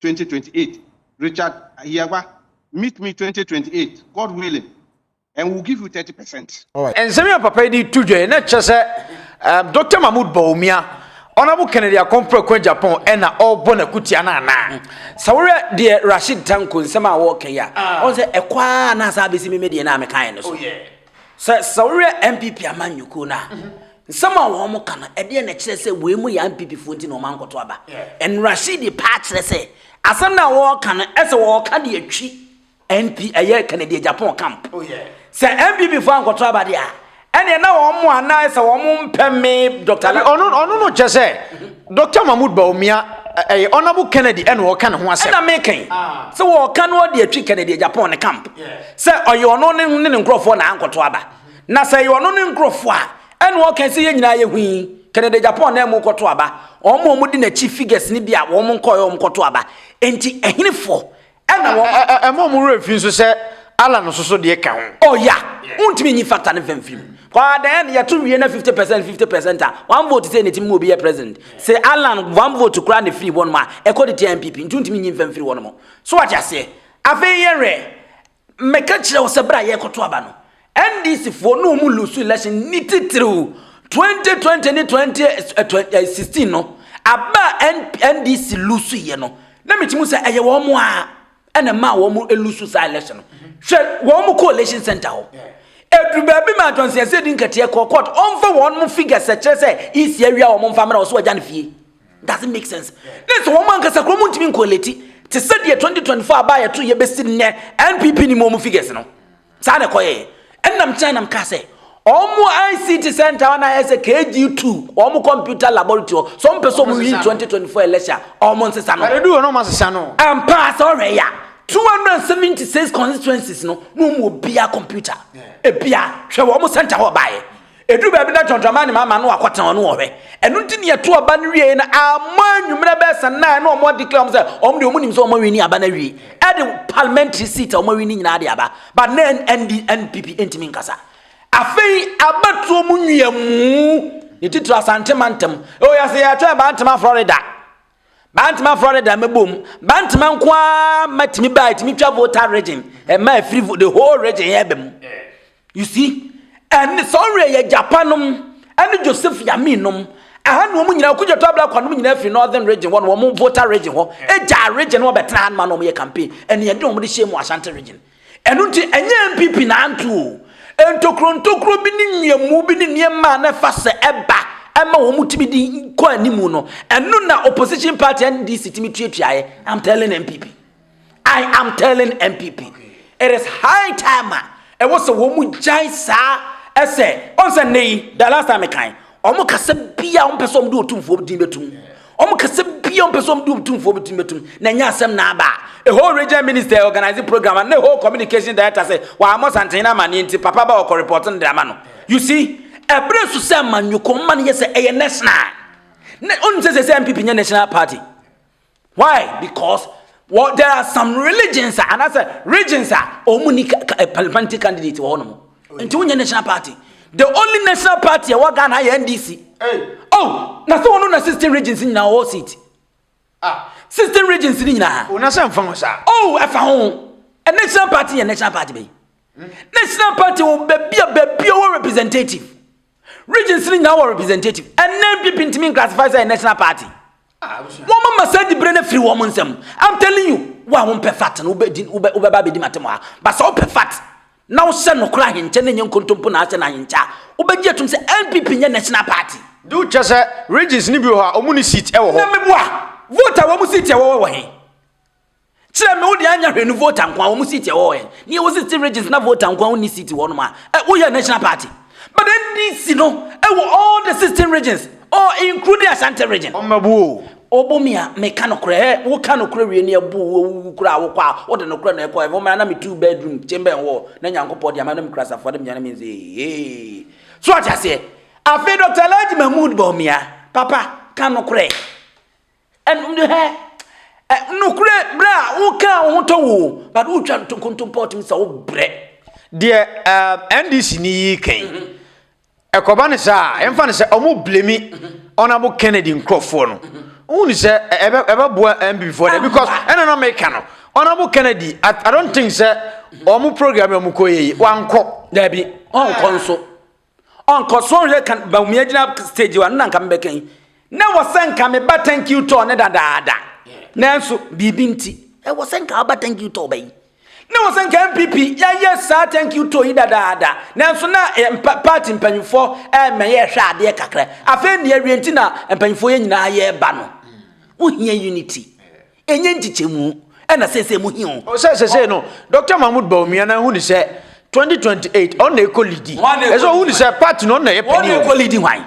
twenty twenty eight Richard Ahiagba meet me twenty twenty eight God willing and we will give you thirty percent. nsɛm yi a papa yi de to dwa yi na kyerɛ sɛ um, dr mahmood bawumia ɔnabo kennedy akɔmprako japan ɛna ɔrebɔ n'akutia no anaa sɛ worɛ deɛ rashid tanko nsɛm a wɔreka yi a ah. ɔn sɛ ɛkɔ a na asa abɛsi me me deɛ no a mekaeɛ no so oh, Sɛ sɛ wohwɛ NPP amanyɔkuo no a, nsɛm a wɔn ka no, ɛdeɛ na ɛkyerɛ sɛ wei mu yɛ NPP foɔ nti na wɔn ankɔto aba. Nrashidi paa kyerɛ sɛ asɛm no a wɔreka no ɛsɛ wɔreka de atwi NP ɛyɛ Kennedy Agyapong camp. Oh, sɛ NPP foɔ ankɔto aba deɛ a, ɛneɛ na wɔn mo anaa sɛ wɔn mpɛ me Dr. Ɔno no kyɛ sɛ Doctor Mahmoud Bawumia, ɛyɛ Honourable Kennedy ɛna ɔreka ne ho asɛm. Ɛna meka yi sɛ wɔreka no ɔde atwi Kennedy Agyapong ne camp sɛ ɔyɛ ɔno ne ne nkurɔfoɔ na ankɔto aba. Na sɛ ɛyɛ ɔno ne nkurɔfoɔ a ɛna ɔka sɛ yɛn nyinaa yɛ hui Kennedy Agyapong na ɛmu kɔto aba. Wɔn a wɔde n'akyi figures no bi a wɔn nkɔɛ wɔn kɔto aba. Enti ɛhenefoɔ Ɛna wɔn. Ɛ ɛ ɛma wɔn werɛ fi nso sɛ Allah no soso deɛ ka ho. Oh ya, wontumi nyi factor no fam firi mu. Kɔa dɛn yɛto wie na 50 percent 50 percent a, one vote sɛ n'atim mu obi yɛ president. Se Allah one vote koraa na firi hɔnom a, ɛkɔ de tia NPP, nti wontumi nyi mfam firi hɔnom. So wate aseɛ? Afei yɛnwɛ, meka kyerɛ wo sɛ berɛ a yɛrekɔto aba no, NDC foɔ ne wɔn lusu election ni titiriw 2020 ne 2016 no aba a NDC lusu yɛ no na meti mu sɛ ɛyɛ wɔn a ɛna ɛma wɔn lusu saa election no hwɛ wɔn coalition center hɔ ɛduru baabi ma Johnson ɛsɛ di nkateɛ kɔ court ɔmfa wɔn mo figures ɛkyerɛ sɛ isi awia wɔn mfa mmerɛ ɔso agya no fie doesn't make sense ne sɛ wɔn ankasa kuro mu ntumi nkɔlɛti te sɛ deɛ 2024 aba yɛto yɛbɛsi nnɛ NPP ni mu wɔn figures no Saa na ɛkɔyɛɛ. Ɛnna meteae na mekaa sɛ, Wɔn ICT Centre hɔ na ayɛ sɛ KG2, wɔn computer laboratory hɔ. Sɛ wɔpɛ sɛ wɔyi 2024 election a, wɔnsesa no. Ɛreduu hɔ na wɔasesa no. Ampa ara, sɛ wohwɛ yɛ a, 276 constituencies no, na wɔn mu obiara computer, ebiara, hwɛ wɔn centre hɔ baeɛ. Ɛduru baabi na John Dramani Mahama no akɔtena hɔ no wɔ hwɛ. Ɛno nti ne ɛto aba no wieɛ no ammɔ anwummerɛ bɛyɛ sɛ nnan na wɔn declare wɔn sɛ wɔn deɛ wɔn nim sɛ wɔn awini aba no awie. Ɛde parliamentary seat a wɔn awini nyinaa de aba. But na ND NPP ntumi nkasa. Afei abatuo mu nwiamu ne titiri Asante mantam. Ɛwɔ yɛ sɛ yɛatwɛn bantama Florida. Bantama afra ne dan mɛbom. Bantama nko ara ma tumi baa tumi twa Volta region. Ɛma ɛfiri the whole region yɛ bɛ mu. You see? Ɛne sɔnre yɛ Japan nom ɛne Joseph Yamin nom. Ɛha na wɔn nyinaa okudwa to abla kwa nom nyinaa firi northern region hɔ na wɔn Volta region hɔ. Ɛgya region wɔn bɛtena ha ma na wɔn yɛ campaign. Ɛne ɛde wɔn de hyɛ mu Ashanti region. Ɛno nti, ɛnyɛ NPP na anto o. Ntokuro ntokuro bi ne mmeamu bi ne nneɛma a na ɛfa sɛ ɛba ma wɔtumi de kɔ anim no, ɛno na opposition party NDC tumi tuatuaeɛ. I'm telling NPP. I am telling NPP. It is high time a ɛwɔ sɛ wɔn gyae saa ɛsɛ ɔnsɛ nnɛ yi the last time kan Wɔn kasa biara wɔn pɛ sɛ wɔn de otumfoɔ din bɛtum. Wɔn kasa biara wɔn pɛ sɛ wɔn de otumfoɔ din bɛtum. Na ɛnyɛ asɛm na aba. Ɛhɔ region minister organize program and ɛhɔ communication director sɛ wɔamɔ santen na amaneɛ nti papa ba ɔkɔ report no de ama no. You see? Ɛbere so sɛ amanyɔkɔ mma no yɛ sɛ ɛyɛ national. Na ɔnim sɛ sɛ sɛ MPP nyɛ national party. Why? Because well, there are some religions and as a regions are omuni eh, parliamentary candidate wɔ hɔnom. Oh, Nti wonyɛ national party. The only national party ɛwɔ Ghana yɛ NDC. Hey. Oh, na sɛ wɔn na sixteen regions in our seat. Ah. Sixteen regions in nyinaa. Wɔn asɛn fa ho saa. Oh, ɛfa ho. A national party yɛ national party bɛyi. Hmm. National party wɔ baabi a baabi a wɔ representative. Regions no nyinaa wɔ representative. Ɛnɛ NPP ntumi nclassify sɛ yɛ national party. Wɔn mama saa dibere no firi wɔn nsam. I'm telling you, wo a wompɛ fat no wobɛba abɛdi matem ha. Ba sɛ wopɛ fat na wohyɛ nokora ahenkyɛ na nyɛ nkontompo na ahyɛ no ahenkyɛ a, wobɛgye atum sɛ NPP nyɛ national party. De wo kyɛ sɛ regions no bi wɔ hɔ a wɔn ni seat wɔ hɔ. Na meboa, vote a wɔn seat a wɔwɔ wɔ he? Kyerɛ me wode anya hwɛ no voter nko a wɔn seat ɛwɔ hɔ yɛn ne yɛwɔ sixty regions na voter nko a wɔnni seat wɔ nom a ɛ woyɛ national party but NDC no ɛwɔ all the sixteen regions or including Ashanti region. Ɔmmabu o. Ɔbɔ mi a meka nokorɛ hɛ woka nokorɛ wie ne ɛbo wo wowu koraa wokɔ a wode nokorɛ na ɛkɔ heaven me a na me two bedroom chamber wɔ hɔ na Nyankopɔn deɛ ama na me kura safoa dem nyane me nse heeheeee so ate aseɛ afei Doctor Alhaji Mahmood Bawumia papa ka nokorɛ Ɛnhɛ ɛ nokorɛ berɛ a wokaa wo ho tɔ wo but wotwa ntonkontompɔ tumi sɛ wobrɛ deɛ uh, ndc ni yi kan mhm. ɛkɔba no saa ɛmfa no sɛ ɔmo blemi ɔnabo mhm. kennedy nkurɔfoɔ no mhm. wone sɛ ɛbɛboa mbfoɔ dɛ because ɛna na meka no ɔnabo kennedy i don't think sɛ ɔmo program ɔmo kɔ yɛyi wankɔ daabi ɔnkɔ nso Ɔnkɔ so nhwɛ ka Bawumia gyina stage wa no na nka mebɛka yi. Na wɔ sɛ nka meba thank you tour ne dadaada. Nanso biribi nti ɛwɔ sɛ nka aba thank you tour bɛyi. Na wɔ sɛ nka MPP yɛyɛ saa thank you tour yi dadaada. Nanso na eh, mpa, party mpanyinfoɔ ɛmɛ eh, yɛhwɛ adeɛ kakra. Afei nea awie nti na mpanyinfoɔ yɛ nyinaa yɛba no. Wohia unity. Enye nkyekyɛmu na seesei mo hia o. Sɛ sesei no Doctor Mahmoud Bawumia na ehunu sɛ 2028 ɔno na ekɔ lidi. Ɛsɛ ohunu sɛ party no ɔno na ɛyɛ panin wɔ mu. Wɔn na ekɔ lidi hwan?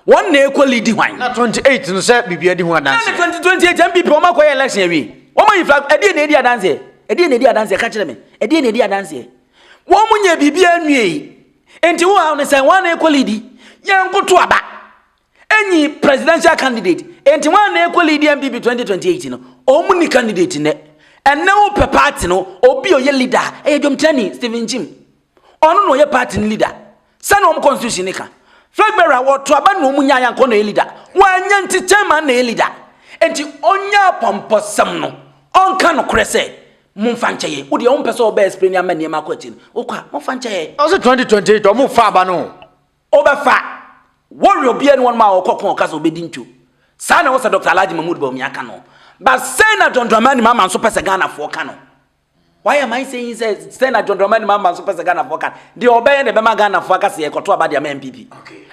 Wɔn na ekɔ lidi hwan? Na 28 no sɛ bibia di ho adanseɛ. Ɛna 2028 NPP wɔn akɔ yɛ election awie. Wɔn ayi flag ɛdeɛ na edi adanseɛ? Ɛdeɛ na edi adanseɛ? Ka kyerɛ me. Ɛdeɛ na edi adanseɛ? Wɔn mo nyɛ bibia nwie yi. Nti wo haw no sɛn? Wɔn na ekɔ lidi. Yɛn nkoto aba. Enyi presidential candidate enti wɔn a na ɛkɔ lead NPP 2028 no wɔn nni candidate nnɛ. Ɛnnɛ wopɛ party no obi a ɔyɛ leader ɛyɛ dwomkyerɛni Stephen Nkyim. Ɔno na ɔyɛ party no leader. Sɛnea wɔn constitution no ka. Flag bearer wɔto aba na wɔn nyaa yɛ ankɔ na ɔyɛ leader. Wɔanya nti chairman na ɛyɛ leader. Enti ɔnyɛ apɔmpɔsɛm no ɔnka nokorɛ sɛ momfa nkyɛ yɛn. Wodeɛ wompɛ sɛ wobɛ explain ama nneɛma akɔ akyiri no wokɔ a momfa nkyɛ yɛn. Ɔse 2028 wɔn fa aba no. Wobɛfa Warrior biaa ne wɔnom a wɔkɔ ko a ɔka sɛ ɔbɛdi nto. Saa na ɛwɔ sɛ Doctor Alhaji Mahmood Bawumia ka no. But sɛn na John Dramani Mahama nso pɛ sɛ Ghanafoɔ ka no? Wayɛ man sɛ yi sɛ sɛn na John Dramani Mahama nso pɛ sɛ Ghanafoɔ ka no? Deɛ ɔbɛyɛ na ɛbɛma Ghanafoɔ aka sɛ yɛkɔto aba de ama NPP.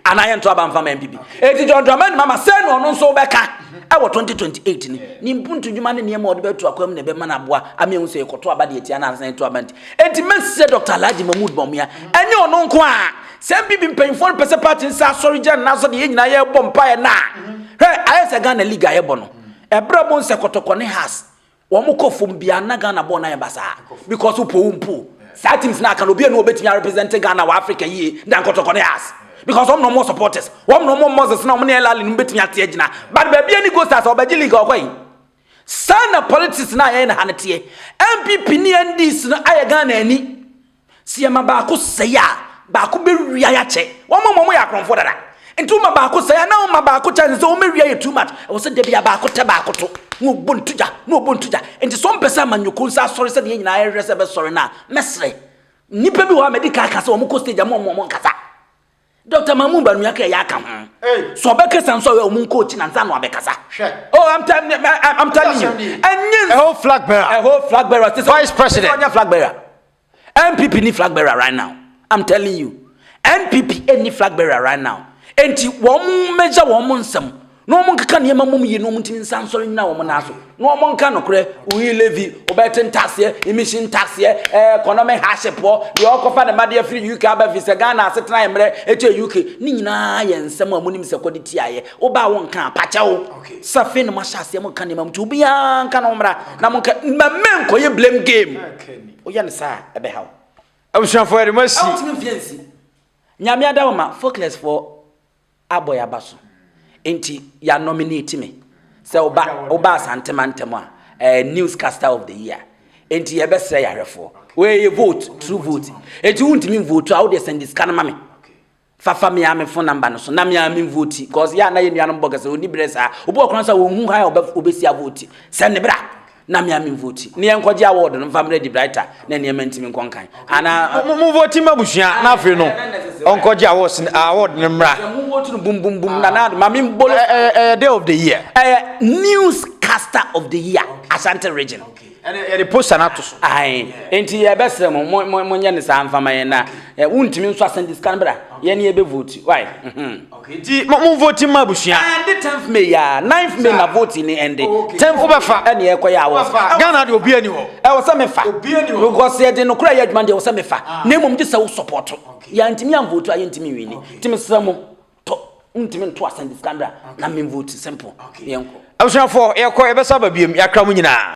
Anaa yɛnto aba mfa ma NPP. Enti John Dramani Mahama sɛn na ɔno nso wobɛka ɛwɔ 2028 no? Ne mpuntu dwuma ne nneɛma a ɔde bɛto akwan mu na ɛbɛma no aboa ama yɛhu sɛ yɛkɔto aba de atia anaa sɛ yɛnto aba nti. Enti mɛse sɛ Doctor Alhaji Mahmood Bawumia ɛnyɛ ɔno nko ara Sɛ NPP mpanyinfoɔ no pɛsɛ party nsa asɔre gya nna so de yɛn nyinaa yɛbɔ mpaeɛ na hwɛ ayɛ sɛ Ghana league a yɛbɔ no ɛberɛ bo nsɛ kɔtɔkɔ ne has wɔn kɔ fam bia na Ghana bɔɔ na yɛn ba saa because wopɔ wo mpo saa teams na aka no obi anu obetumi a represent Ghana wɔ Africa yie dan kɔtɔkɔ ne has because wɔn na wɔn supporters wɔn na wɔn Moses na wɔn ne Elali no betumi ate agyina but baabi ani go stars ɔbɛgye league ɔkɔ yi saa na politics na yɛn na ha ne teɛ NPP ne NDC no ayɛ Ghana ani Sɛ yɛma baako sɛe a, baako bɛwia yɛ akyɛ. Wɔn a wɔyɛ akorɔmfoɔ dada. Nti woma baako sɛe a, na woma baako chance sɛ wɔbɛwia yɛ too much. Ɛwɔ sɛ da bi a baako tɛ baako to, na wɔbɔ no to gya, na wɔbɔ no to gya. Nti sɛ wɔmpɛ sɛ amanyɔkuo nso asɔre sɛdeɛ yɛn nyinaa yɛhwehwɛ sɛ ɛbɛsɔre no a, mɛsrɛ. Nnipa bi wɔ hɔ a madi kan aka sɛ wɔkɔ stage a, momma wɔnkasa. Doctor Mamu Banuaka ɛyɛ aka ho. So ɔbɛkasa nso ɔyɛ ɔmo nkɔ okyi na nsa na wabɛkasa. Oh, I'm, I'm telling you. Ɛnyɛ a whole flag bearer. A whole flag bearer. Vice president. Ɔnyɛ flag bearer. NPP ni flag bearer right now. I'm telling you. NPP ni flag bearer right now. Enti wɔn mmegya wɔn nsam. na wɔnkeka nneɛma mmom yie na wɔntumi nsa nsɔre nyina wɔn nan so na wɔnka nokorɛ oyi levi ɔbɛte ntaseɛ emisi ntaseɛ ɛɛ eh, kɔnɔme hahyɛpoɔ deɛ ɔkɔfa ne madeɛ firi uk aba fi sɛ ghana asetena yɛ mmerɛ ɛkyɛ uk ne nyinaa yɛ nsɛm a monim sɛ kɔde tiaeɛ woba a wonka apakyɛ wo sɛ afei na moahyɛ aseɛ monka nneɛma mu nti obiara nka no mmra na monka mmɛmmɛ nkɔyɛ blame game woyɛ no saa ɛbɛha wo abusuafoɔ yɛde mo asi nyame ada wo ma foclesfoɔ abɔ yɛn aba so nti yɛ nominate me sɛ woba woba asante mantam a ɛɛ eh, newscaster of the year nti yɛbɛsrɛ yɛahwɛfoɔ wɔyɛ vote true vote nti wontumi nvote a wodeɛ sɛnde sika no ma me fafa me a me phone number no so na me a me vote cause yɛ a na yɛ nuanom bɔ kɛsɛ ɔni berɛ saa obi ɔkora sɛ wɔhu ha a ɔbɛsi a vote sɛnde bra na mea me vote ne yɛn kɔgye award no mfa mmerɛ di brighter na nneɛma ntumi nkɔ nkan anaa mo mo vote ma busua na afei no ɔnkɔgye awards award no mmra mo vote no bum bum bum na na ma me mbolo ɛyɛ day of the year ɛyɛ newscaster of the year Asante region yɛde poster no ato so ae nti yɛbɛsrɛ mo mo mo nyɛ ne saa mfama yɛn na wontumi nso asɛnde sika no bra yɛne yɛbɛ vote why mhm. Nti mo mo vote mma abusua. Ɛnde tenth may a ninth may na vote ni ɛnde tenth wobɛfa ɛne ɛkɔ yɛ awɔ Ghana deɛ obia ni hɔ ɛwɔ sɛ mefa because yɛ de nokora yɛ adwuma deɛ ɛwɔ sɛ mefa na mmom gye sɛ wo support yɛ antimi an vote a yɛ ntimi nwini nti mesrɛ mo tɔ ntimi nto asɛm de sika mbra na men vote simple yɛnkɔ abusuafoɔ yɛkɔ yɛbɛsa ba biam yɛakra mo nyinaa